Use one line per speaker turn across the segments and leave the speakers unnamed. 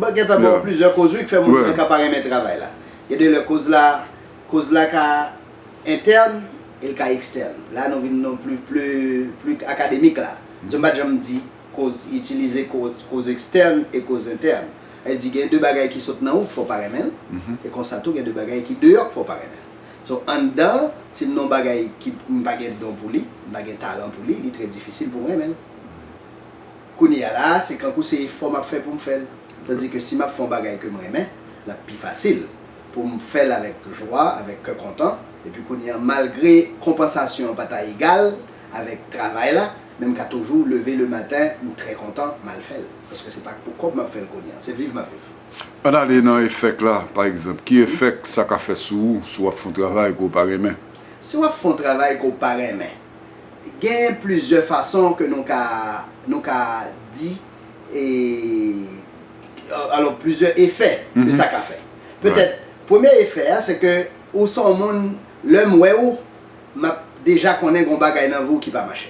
Bon gen tan gon plizyè koz wi k fè moun gen ka pa renmen travay la. Gen de lè koz la koz la ka entèn e l ka ekstèn. La nou vin nou pli pli akademik la. Paske m pa t janm di koz itilize koz ekstèn e koz entèn. Sa vle di gen de bagay ki sot nan ou k fè w pa renmen l e konsa tou gen de bagay ki deyò k fè w pa renmen l. So anndan an si m nan yon bagay ki m pa gen don pou li, m pa gen talan pou li, li trè difisil pou m renmen l. Kounye a la a, se kankou se efò m ap fè pou m fè l. Tandi ke si m ap fè yon bagay ke m renmen, l ap pi fasil pou m fè l avèk jwa, avèk kè kontan. Epi kounye a, malgre konpansasyon an pa ta egal avèk travay la, men m ka toujou leve le maten, m trè kontan, m al fè l. Paske se pa pou kòb m ap fè l kounye a, se viv m ap viv. Ann ale nan efèk
la, pa egzanp. Ki efèk sa ka fè sou ou si w ap fè yon travay ke w pa renmen? Si w ap fè yon
travay ke w pa renmen, Gen plizyè fason ke nou ka, nou ka di, e, alò plizyè efè ke sa ka fè. Petèt, premye efè a se ke ou se yon moun, lè m wè ou, m ap deja konnen gen yon bagay nan vi w ki pa mache.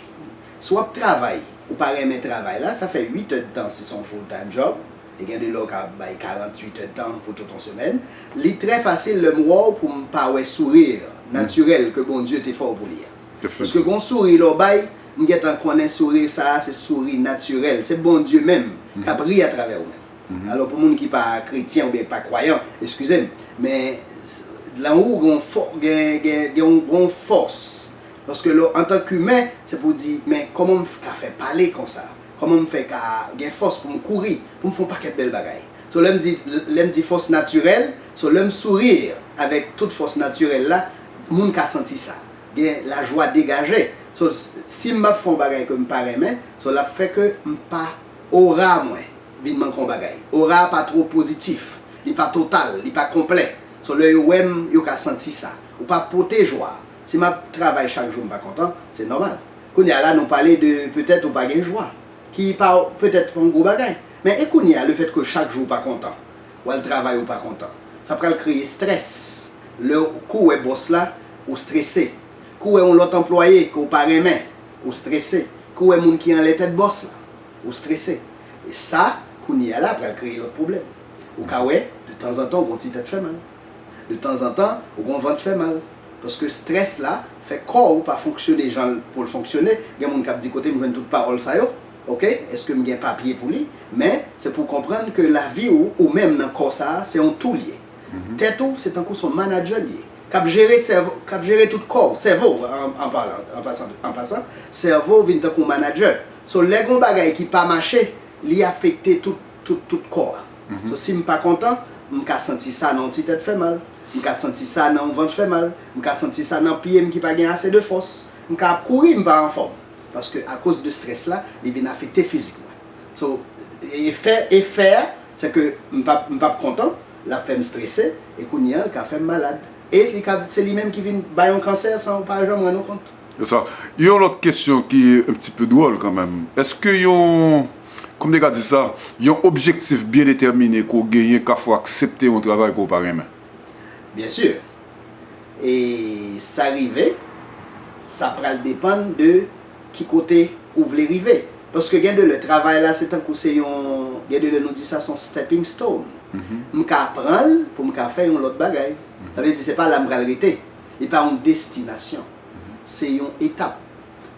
Si w ap travay, ou pa renmen travay la, sa fè 8 èdtan si se yon full time job, e gen de lè ou ka bay 48 è tan pou tout on semèn, li trè fasil lè m wè w pou m pa wè sourir natirèl ke Bondye te fè w pou li a. Paske gon souri lè w bay, m gen tan konnen souri sa a se souri natirèl, se Bondye menm k ap ri atravè ou menm. Alò pou moun ki pa kretyen oubyen ki pa kwayan, eskize m, men lan ou gen on fò, gen on gen on fòs, paske lè w antank imen, se pou w di men kòman m ka fè pale konsa? Kòman m fè ka gen fòs pou m kouri, pou m fè yon pakèt bèl bagay? So lè m di, lè m di fòs natirèl, so lè m sourire avèk tout fòs natirèl la, moun ka santi sa. Gen lajwa degaje. So si m ap fè yon bagay ke m pa renmen, so l ap fè ke m pa, aura mwen vin manke yon bagay. Aura a pa two pozitif. Li pa total, li pa konplè. So lè yo wè m, yo ka santi sa. Ou pa pote jwa. Si map travay chak jou mpa kontan, se nòmal. Kounye a la nou pale de petèt ou pa gen jwa, ki pa petèt yon gwo bagay. Men e kounye a lefèt ke chak jou ou pa kontan, wal travay ou pa kontan, sa pral kreye strès. Lè kou wè bòs la, ou strese. Kou wè yon lòt anplwaye ke ou pa renmen, ou strese. Kou wè moun ki anlè tèt bòs la, ou strese. E sa, kounye a la pral kreye lòt pwoblèm. Ou ka wè, de tanzantan ou gen yon ti tèt fè mal. De tanzantan ou gon vant fè mal. Paske stress la fè kò ou pa fonksyone janl poul fonksyone. Gen moun kap di kotem jwenn tout pawòl sa yo ok eskem gen papye pou li men se pou konprann ke lavi ou ou menm nan kò sa se yon toul ye tèt ou se tankou son manager li ye kap jere sèvo kap jere tout kòw sèvo an palan an pasan sèvo vin tankou manager so lè gon bagay ki pa mache li afekte tout tout tout kò a. So si m pa kontan, m ka santi sa nan yon ti tèt fè mal, m ka santi sa nan yon vant fè mal, m ka santi sa nan pye m ki pa gen ase de fòs, m ka ap kouri m pa anfòm. Paske akoz de strès la, li vin afekte fizik mwen. So efè efè a se ke m pa m pa p kontan, l ap fè m strese e kounye an l ka fè m malad. E li ka se li menm ki vin bay yon kansè san ou pa janm rann ou kont. Se sa. Yon
lòt kesyon ki un pti peu dwòl kanmenm. Eske yon, kòm te ka di sa, yon objektif byen detèmine ke w genyen ka fè w aksepte yon travay ke w pa renmen? Byen sur.
E sa rive, sa pral depann de ki kote ou vle rive. Paske gen de lè travay la se tankou se yon, gen de lè nou di sa se yon stepping stone. M ka pran l pou m ka fè yon lòt bagay. Sa vle di se pa la m pral rete. Li pa yon destinasyon. Se yon etap.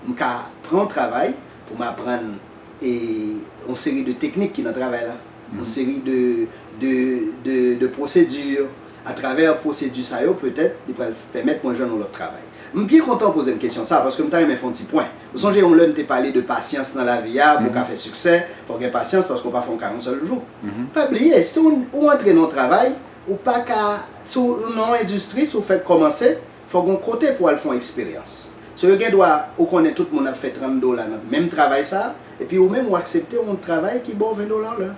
M ka pran yon travay pou m aprann yon seri de teknik ki nan travay la, yon seri de pwosedi. Atravè pwosedi sa yo, petèt, li pral pèmèt mwen jwenn yon lòt travay. M byen kontan w poze m kesyon sa a, paske m ta renmen fè yon ti pwen. Ou sonje yon lè n te pale de pasyans nan lavi a, pou w ka fè siksè, fò w gen pasyans, paske w pa fè yon ka yon sèl jou. Pa bliye, si ou antre nan yon travay, ou pa ka. Si w nan yon endistri, si w fèk kòmanse, fò w gen yon kote pou w al fè yon eksperyans. So yo gen dwa, ou konnen tout moun ap fè 30 dola nan menm travay sa a, epi ou menm ou aksepte yon travay ki ba w 20 dola lè.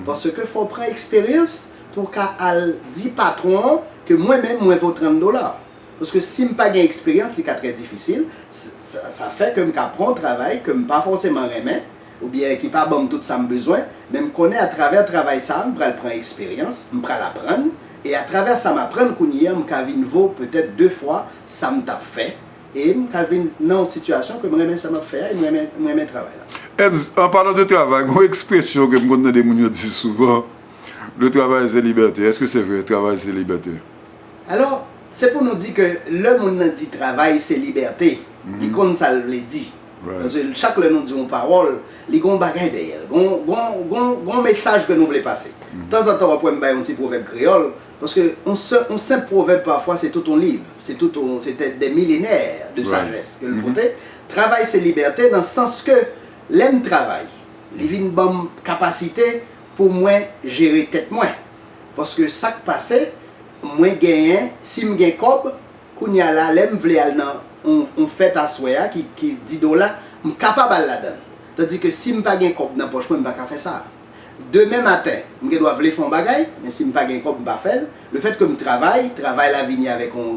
Paske fò w pran eksperyans pou w ka al di patwon an ke mwen menm mwen vo 30 dola. Paske si m pa gen eksperyans li ka trè difisil, sa fè ke m ka pran yon travay ke m pa fòseman renmen, oubyen ki pa ban m tout sa m bezwen, men m konnen atravè travay sa a m pral pran eksperyans, m pral aprann, e atravè sa m aprann kounye an m ka vin vo petèt de fwa sa m t ap fè, e m ka vin nan yon sitiyasyon ke m renmen sa m ap fè a e m renmen m renmen travay la.
Ez, An palan
de
travay, gen yon ekspresyon ke m konn tande moun yo
di
souvan, Le travail c'est liberté. Eske se vre, travay se libète? Alò,
se pou nou di ke lè moun nan di travay se libète, li konn sa l vle di. Paske chak
lè nou di
yon pawòl, li gen yon bagay dèyè l. Gen yon mesaj ke nou vle pase. Tanzantan w ap wè m bay yon ti pwovèb kreyòl, paske yon senp pwovèb pafwa se tout yon liv, se tout yon, se dè milenè de sajès ke l pote. Travay se libète nan sans ke lè m travay, li vin ban m kapasite pou mwen jere tèt mwen. Paske sa k pase, mwen genyen, si m gen kòb, Kounya la, lè m vle al nan on on fèt aswè a ki ki di dola, m kapab al ladan l. Tandi ke si m pa gen kòb nan pòch mwen, m pa ka fè sa. Demen maten, m gen dwa vle fè on bagay, men si m pa gen kòb, m pa fè l. Lefèt ke m travay, travay la vini avèk on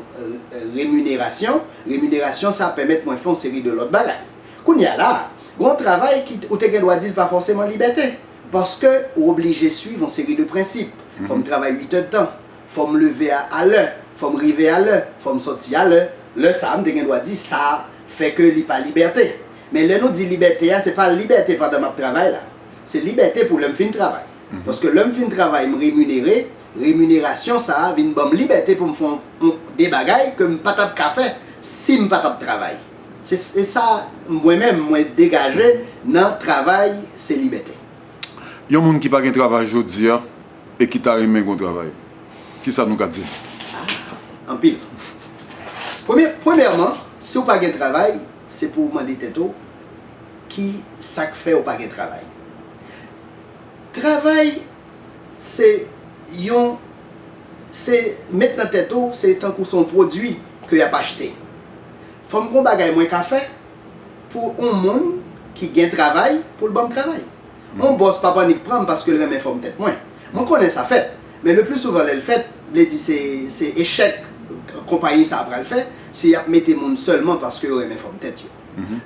reminerasyon, reminerasyon sa pèmèt mwen fè on seri de lòt bagay. Kounya la, gen on travay ki ou te gen dwa di l pa fòseman libète, paske ou oblije suiv on seri de prensip. Fò m travay uitèdtan, Fò m leve a alè, fò m rive alè, fò m sòti alè, lè sa a m te gen dwa di sa fè ke li pa libète. Men lè nou di libète a se pa libète pandan m ap travay la. Se libète pou lè m fin travay. Paske lè m fin travay m reminere, reminerasyon sa a vin ban m libète pou m fè yon de bagay ke m pa t ap ka fè si m pa t ap travay. Se se sa mwen menm mwen degaje nan travay se libète. Yon
moun ki pa gen travay jodi a. E ki ta renmen gon travay. Ki sa nou ka di l? Ah!
Anpil. Premye, premyèman, si ou pa gen travay, se pou ou mande tèt ou, ki sa k fè ou pa gen travay? Travay, se yon, se met nan tèt ou, se tankou se yon pwodui ke y ap achte. Fò m gen yon bagay mwen ka fè pou yon moun ki gen travay pou l ban m travay. Mon bòs pa p annik pran m paske l renmen fòm tèt mwen. Mwen konnen sa fèt, men le pli souvan lè l fèt, vle di se se echèk konpayi sa a pral fè si y ap mete moun sèlman paske yo renmen fòm tèt yo.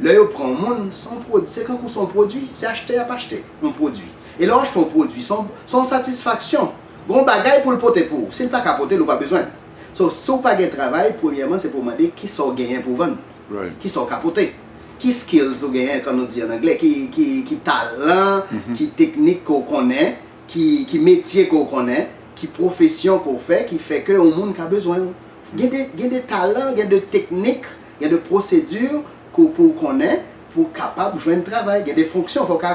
Lè yo pran yon moun, se yon pwod, se kankou se yon pwodui, se achte y ap achte yon pwodui. E lè w achte yon pwodui, se yon se yon satisfaksyon. Gen yon bagay pou l pote pou ou. Si l pa ka pote l, ou pa bezwen l. So, si w pa gen travay, premyèman se pou w mande kisa w genyen pou w vann. Ki sa w ka
pote?
Ki skills ou genyen, kan nou di an angle, ki talan, ki teknik ke w konnen, ki metye ke w konnen, ki pwofesyon ke w fè ki fè ke yon moun ka bezwen w? Gen de talan, gen de teknik, gen de pwosedi ke pou w konnen pou w kapab jwenn travay. Gen de fonksyon fò w ka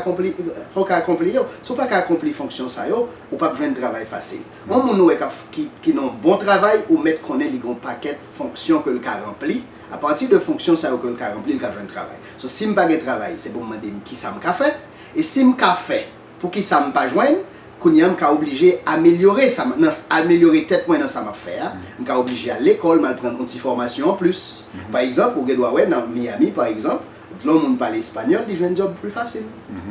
akonpli yo. Si w pa ka akonpli fonksyon sa yo, ou p ap jwenn travay fasil. Yon moun ou wè kap ki nan yon bon travay ou mèt konnen li gen yon pakèt fonksyon ke l ka ranpli, a pati de fonksyon sa yo ke l ka ranpli l ka jwenn travay. So si m pa gen travay se pou m mande m kisa m ka fè, e si m ka fè poukisa m pa jwenn, kounye a m ka oblije amelyore sa m nan amelyore tèt mwen nan sa m ap fè a, m ka oblije al lekòl m al pran yon ti fòmasyon anplis. Pa egzanp ou gen dwa wè nan Miami pa egzanp Dlo moun pale espanyòl li jwenn djòb pli fasil.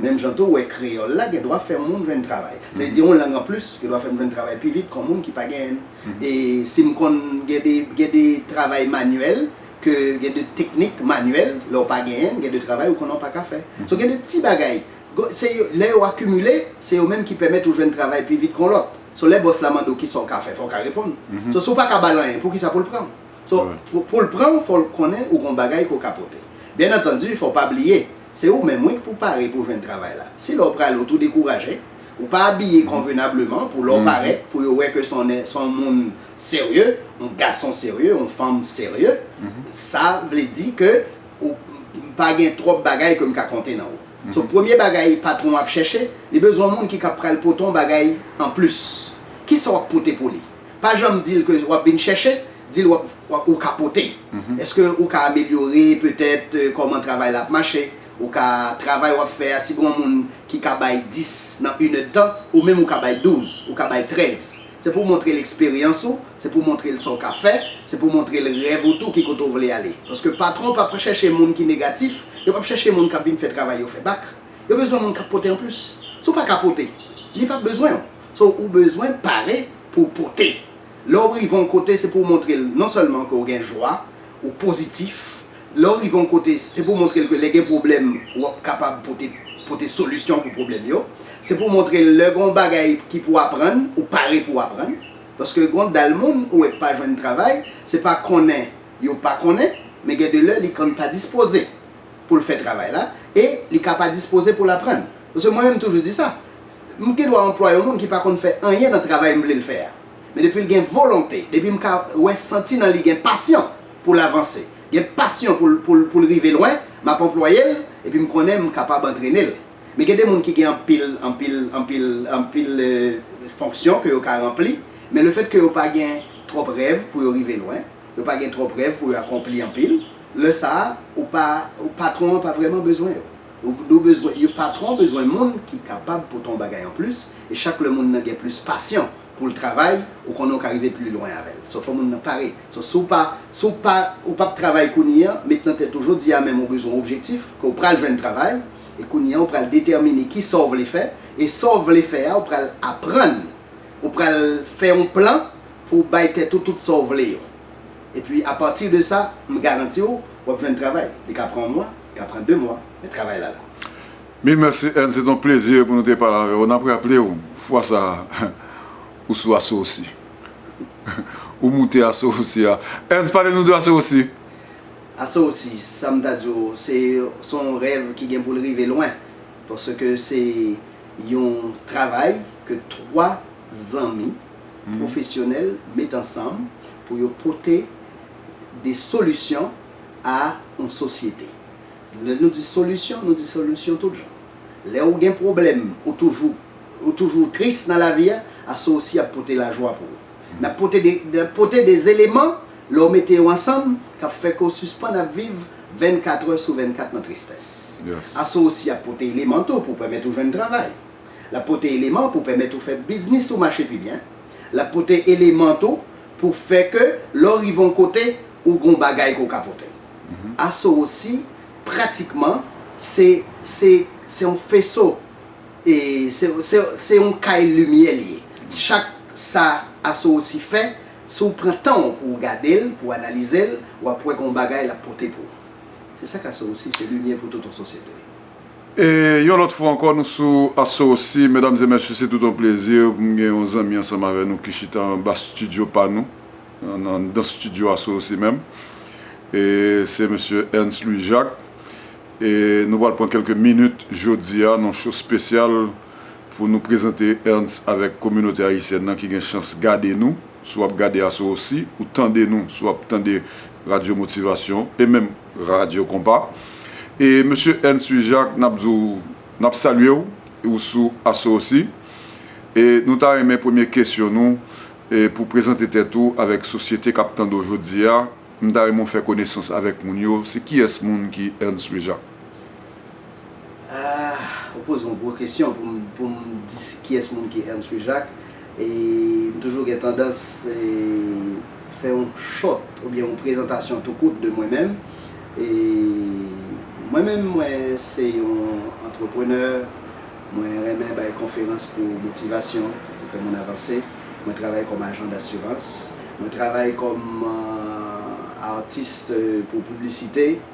Menm jan tou ou wè kreyòl la gen dwa fè moun jwenn travay. Vle di yon lang an plis gen dwa fè m jwenn travay pi vit kon moun ki pa genyen l. E si m konn gen de gen de travay manyèl ke gen de teknik manyèl lè w pa genyen l gen de travay ou konnen w pa ka fè. So gen de ti bagay go se yo lè yo akimile se yo menm ki pèmèt ou jwenn travay pi vit kon lòt. So lè bòs la mande w kisa w ka fè fò w ka reponn. So si w pa ka ba l anyen poukisa pou l pran w? So, pou l pran w, fò l konnen ou gon bagay ke w ka pote. Byen antandi, fò w pa bliye, se ou menm wi k pou pare pou w jwenn travay la. Si lè w prale w tou dekouraje, ou pa abiye konvenableman pou lè w parèt, pou yo wè ke son nè, son moun serye, on gason serye, on fanm serye, sa vle di ke ou pa gen twòp bagay ke m ka konte nan ou. So, premye bagay patwon w ap chèche, li bezwen on moun ki ka pral pote on bagay anplis. Kisa w ap pote pou li? Pa janm dil ke wap vin chèche, dil wap wap ou ka pote. Eske ou ka amelyore petèt kòman travay la ap mache, ou ka travay wap fè a si gon moun ki ka bay 10 nan yn èdtan, ou menm ou ka bay 12, ou ka bay 13. Se pou montrel eksperyans ou, se pou montrel sa ou ka fè, se pou montrel rèv ou tou ki kote ou vle ale. Paske patwon pa p chèche moun ki negatif, yo pa p chèche moun kap vin fè travay yo fè bak. Yo bezwen moun kap pote anplis. Si ou pa ka pote, li pap bezwen ou. So ou bezwen pare pou w pote. Lè w rive yon kote se pou w montre l non sèlman ke w gen jwa, ou pozitif, lè w rive yon kote se pou w montre l ke lè gen pwoblèm w ap kapab pote pote solisyon pou pwoblèm yo, se pou w montre l lè gen yon bagay ki pou aprann ou pare pou w aprann. Paske gen yon dal moun ou wè k pa jwenn travay, se pa konnen yo pa konnen men gen de lè li konn pa dispoze. pou l fè travay la e li ka pa dispoze pou l aprann. Paske mwen menm m toujou di sa, m gen dwa anplwaye yon moun ki pa konn fè anyen nan travay m vle l fè a. Men depi l gen volonte, depi m ka wè, santi nan li gen pasyon pou l avanse, gen pasyon pou l pou l rive lwen, m ap anplwaye l epi m konnen m kapab antrene l. Men gen de moun ki gen anpil, anpil, anpil, anpil fonksyon ke yo ka ranpli, men lefètke yo pa gen twòp rèv pou yo rive lwen, Yo pa gen twòp rèv pou yo akonpli anpil. Lè sa a, ou pa, patwon an pa vrèman bezwen yo. Ou bezwen, yo, patwon bezwen moun ki kapab pote yon bagay anplis, e chak lè moun nan gen plis pasyon pou l travay, ou konnen ou ka rive pli lwen avè l. So, fò moun nan pare. So, si w pa, si w pa, ou pap travay kounye an, met nan tèt ou jodi a menm ou bezwen objektif, ke w pral jwenn travay, e kounye an ou pral detèmine ki sa w vle fè, e sa w vle fè a ou pral aprann, ou pral fè yon plan, pou w bay tèt ou tout sa w vle yo. Epi a pati de sa, m garanti w, w ap jwenn travay. Li ka pran yon mwa, li ka pran de mwa, men travay la la. Mil mèsi
Anne, se t on plezi pou nou te pale avè w. N ap raple w, fwa sa a, ou sou aso osi. Ou moute aso osi a. Anne, pale nou de aso osi. Aso
osi, sa m ta di w, se s on rèv ki gen pou l rive lwen. Paske se yon travay ke twa zanmi. pwofesyonèl met ansanm pou yo pote de solisyon a yon sosyete. Lè nou di solisyon, nou di solisyon tout jan. Lè ou gen pwoblèm, ou toujou ou toujou tris nan lavi a, asosi ap pote lajwa pou ou. N ap pote de n ap pote de zeleman, lè w mete yo ansanm, k ap fè ke w sispann ap viv vennkatrè sou vennkat nan tristès. Asosi ap pote eleman tou pou pèmèt ou jwenn travay. L ap pote eleman pou pèmèt ou fè biznis ou mache pi byen. L ap pote eleman tou pou fè ke lè w rive yon kote, ou gen yon bagay ke w ka pote. Asowsi pratikman se se se yon feso e se se se yon kay limyè li ye. Chak sa Asowsi fè, si w pran tan w pou w gade l, pou w analize l, w ap wè gen yon bagay l ap pote pou ou. Se sa k Asowsi, se limyè pou tout yon sosyete. E
yon lòt fwa ankò nou sou Asosi medam e mesye se tout yon plezi pou m gen yon zanmi ansanm avè nou ki chita anba stidyo pa nou anndan stidyo Asosi menm e se mesye Ernst Louis Jacques e nou pral pran kèlke minit jodi a nan yon show spesyal pou nou prezante Ernst avèk kominote ayisyèn nan ki gen chans gade nou si w ap gade Asosi ou tande nou si w ap tande radyo motivasyon e menm Radyo Konpa. E Mesye Ernst Louis Jacques, n ap di w, n ap salye w, ou sou aso osi. E nou ta renmen premye kesyon nou, e pou w prezante tèt ou avèk sosyete k ap tande w jodi a. M ta renmen w fè konesans avèk moun yo, se kiyès moun ki Ernst Louis Jacques? Ahh
ou poze yon gwo kesyon pou m di kiyès moun ki Ernst Louis Jacques e m toujou gen tandans fè yon short oubyen yon prezantasyon tou kout de mwen menm e mwen menm mwen se yon antreprenè mwen renmen bay konferans pou motivasyon pou fè moun avanse mwen travay kòm ajan dasirans mwen travay kòm artiste pou piblisite.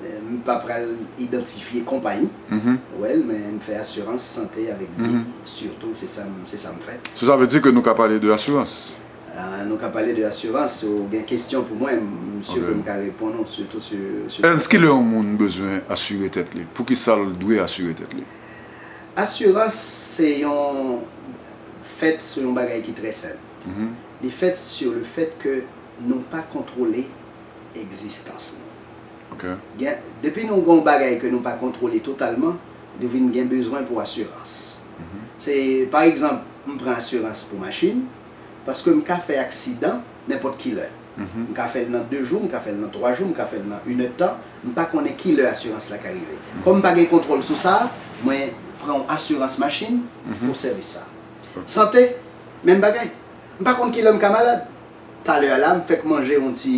M pa pral idantifye konpayi, well, men m fè asirans sante avèk vi sitou, se sa m se sa m fè. So sa vle di ke nou ka
pale de asirans? Nou ka pale
de asirans, si w gen kesyon pou mwen, m si ke m ka reponn ou sitou sou kesyon sa. Ernst, kilè yon
moun bezwen asire tèt li? Poukisa l dwe asire tèt li? Asirans
se yon fèt sou yon bagay ki trè senp. Li fèt sou le fèt ke nou pa kontwole egzistans nou.
Gen, depi nou gen
yon bagay ke nou pa kontwole totalman, nou vin gen bezwen pou asirans. Se, pa egzanp, m pran asirans pou machin, paske m ka fè aksidan nenpòt ki lè. M ka fè l nan 2 jou, m ka fè l nan 3 jou, m ka fè l nan inèdtan, m pa konnen ki lè asirans la ka rive. Kòm m pa gen kontwòl sou sa, mwen pran yon asirans machin pou sèvis sa. Sante, menm bagay. M pa konn ki lè m ka malad. Talè a la m fèk manje yon ti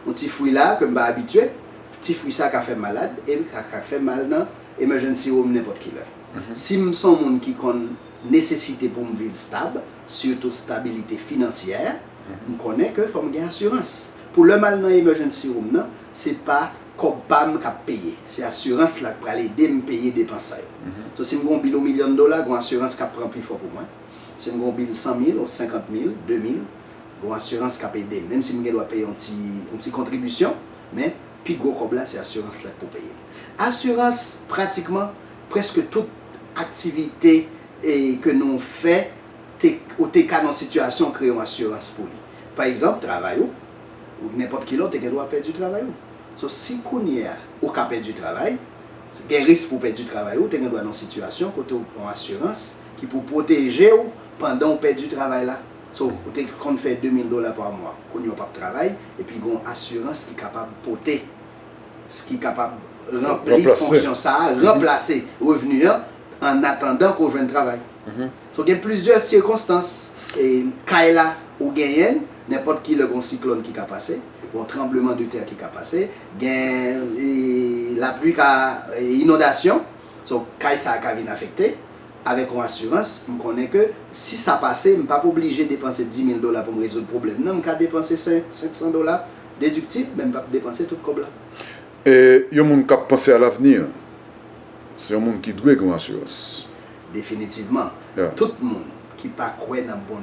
yon ti fwi la ke m pa abitye. Ti fwi sa ka fè m malad e l ka fè mal nan emergency room nenpòt ki lè. Si m s on moun ki konn nesesite pou m viv stab, sitou stabilite finansyè, m konnen ke fò m gen asirans. Pou lè m al nan emergency room nan, se pa kòb pa m k ap peye. Se asirans la k pral ede m peye depans sa yo. So si m gen yon bil yon milyon dola, gen yon asirans k ap pran pifò pou mwen. Si m gen yon bil 100 mil, 50 mil, 2 mil, gen yon asirans k ap ede m. Menm si m gen dwa peye yon ti yon ti kontribisyon, men pi gwo kòb la se asirans la k pou peye l. Asirans pratikman prèske tout aktivite e ke nou fè te ou te ka nan yon sitiyasyon kreye yon asirans pou li. Pa egzanp, travay ou, ou nenpòt ki lè ou te gen dwa pèdi travay ou. So si kounye a ou ka pèdi travay, gen risk pou pèdi travay ou, ou te gen dwa nan yon sitiyasyon kote ou pran asirans. Ki pou pwoteje w pandan w pèdi travay la. So, ou te konn fè 2000 dola pa mwa, kounye a w pap travay, epi gen yon asirans ki kapab pote, ki kapab ranpli fonksyon sa a, ranplase revni an, an atandan ke w jwenn travay. So, gen plizyè sikonstans, kay la ou genyen, nenpòt ki lè gen yon siklòn ki ka pase, gen yon tranbleman de tè ki ka pase, gen lapli ka, inondasyon. So, kay sa a ka vin afekte. Avèk yon asirans, m konnen ke si sa pase, m pap oblije depanse dimil dola pou m rezoud pwoblèm nan. M ka depanse sen, senksan dola dediktib, men m pap depanse tout kòb la. E
yon moun k ap panse a lavni an, se yon moun ki dwe gen yon
asirans. Definitivman. Tout
moun
ki
pa
kwè
nan.